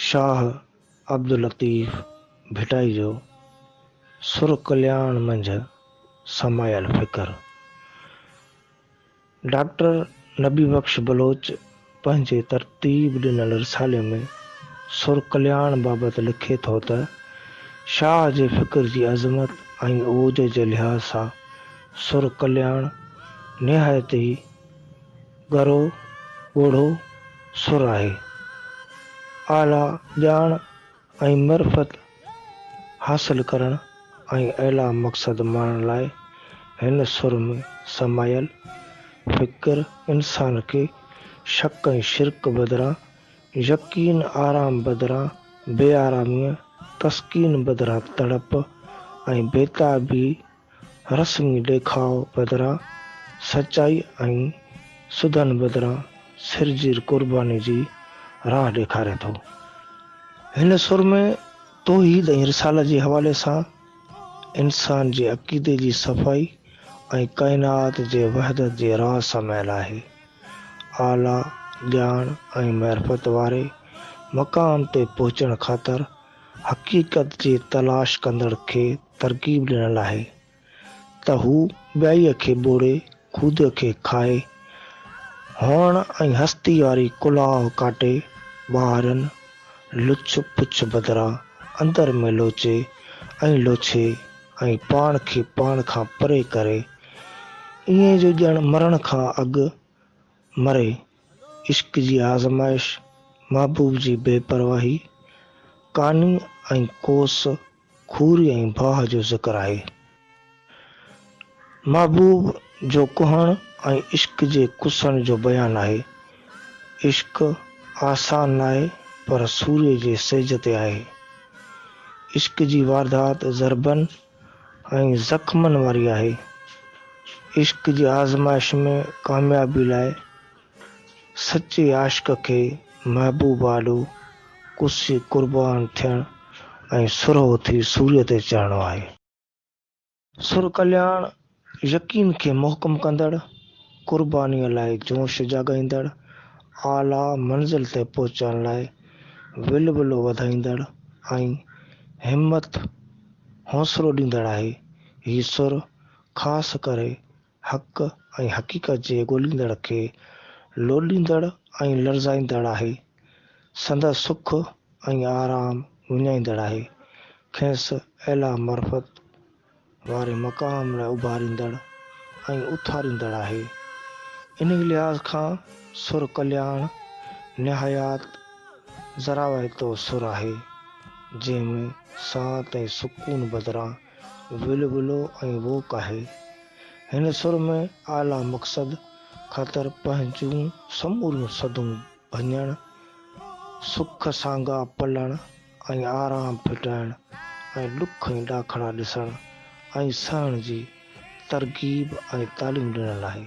شاهه عبداللطيف ڀٽائي جو سر ڪلياڻ منجهه سمايل فڪر ڊاڪٽر نبي بخش بلوچ پنهنجي ترتيب ڏنل رسالي ۾ سر ڪلياڻ بابت لکي ٿو ته، شاهه جي فڪر جي عظمت ۽ عوج جي لحاظ سان سر ڪلياڻ نهايت ئي ڳرو ڳوڙهو سر آهي. اعليٰ ڄاڻ ۽ معرفت حاصل ڪرڻ ۽ اعليٰ مقصد ماڻڻ لاء هن سر ۾ سمايل فڪر انسان کي شڪ ۽ شرڪ بدران يقين، آرام بدران بي آراميء، تسڪين بدران تڙپ ۽ بيتابيء، رسمي ڏيکاء بدران سچائي ۽ سڌن بدران سرزير قرباني جي راهه ڏيکاري ٿو. هن سرمي توحيد ۽ رسالت جي حوالي سان انسان جي عقيدي جي صفائي ۽ ڪائنات جي وحدت جي راز سمايل آهي. اعليٰ ڄاڻ ۽ معرفت واري مقام تي پهچڻ خاطر حقيقت جي تلاش ڪندڙ کي ترغيب ڏنل آهي ته هو ٻيائيء کي ٻوڙي خود کي کائي، هئڻ ۽ هستي واري ڪلاه ڪاٽي، ٻاهرئين لڇ پڇ بدران اندر ۾ لوچي ۽ لوڇي ۽ پاڻ کي پاڻ کان پري ڪري، ائين جو ڄڻ مرڻ کان اڳ مري، عشق جي آزمائش، محبوب جي بي پرواهي، ڪاني ۽ ڪوس، کوري ۽ باهه جو ذڪر آهي. محبوب جو ڪهڻ ۽ عشق جي ڪسڻ جو بيان آهي. عشق آسان ناهي پر سوري جي سيج تي آهي. عشق جي واردات ضربن ۽ زخمن واري آهي. عشق جي آزمائش ۾ ڪاميابي لاء. سچي عاشق کي محبوب آڏو ڪسي قربان ٿيڻ ۽ سرهو ٿي سوريء تي چڙهڻو آهي. سر ڪلياڻ يقين کي محڪم ڪندڙ، قربانيء لاء جوش جاڳائيندڙ، اعليٰ منزل تي پهچڻ لاء ولولو وڌائيندڙ ۽ همت، حوصلو ڏيندڙ آهي. هي سر خاص ڪري حق ۽ حقيقت جي ڳوليندڙ کي لوڏيندڙ ۽ لرزائيندڙ آهي، سندس سک ۽ آرام وڃائيندڙ آهي، کيس اعليٰ معرفت واري مقام لاء اڀاريندڙ ۽ اٿاريندڙ آهي. انهي لحاظ کان سر ڪلياڻ نهايات زراوايتو سر آهي، جنهن ۾ سانت ۽ سڪون بدران ولولو ۽ ووڪ آهي. هن سر ۾ اعليٰ مقصد خاطر پنهنجون سموريون سڌون ڀڃڻ، سک سانگا پلڻ ۽ آرام ڦٽائڻ ۽ ڏک ۽ ڏاکڙا ڏسڻ ۽ سهڻ جي ترغيب ۽ تعليم ڏنل آهي.